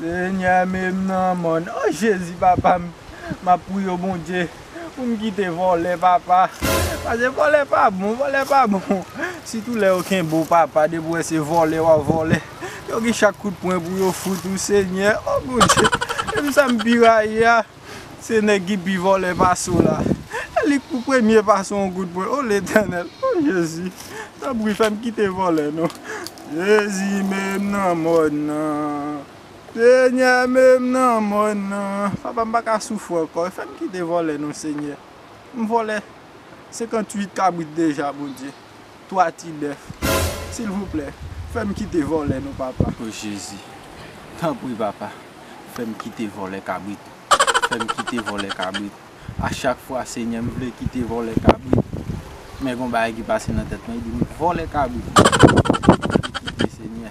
Senyè menm nan mòn oh jezi papa m map priyew bondye pou m kite vòlè papa pase vòlè pa bon vòlè pa bon sitou lè yo kenbe w papa depi w wè se vòlè wap vòlè yo gen chak kout pwen pou yo fout ou senyè oh bondye e m sa m pi rayi a. Se nèg ki pi vòlè pase w la. E li k pou premye pase w yon goud pwen. O Letènèl! O Jezi! Tanpri fè m kite vòlè non. Jezi mete m nan mòn nan. Senyè mete m nan mòn nan. Papa m pa ka soufri ankò. Fè m kite vòlè non Senyè. M vòlè 58 kabrit deja Bondye. 3 ti bèf silvouplè fèm kite vòlè non papa. O jezi tanpri papa fèm kite vòlè kabrit fèm kite vòlè kabrit a chak fwa senyè m vle kite vòlè kabrit men gon bagay ki pase nan tèt mwen li dim vòlè kabrit mwen vle kite senyè.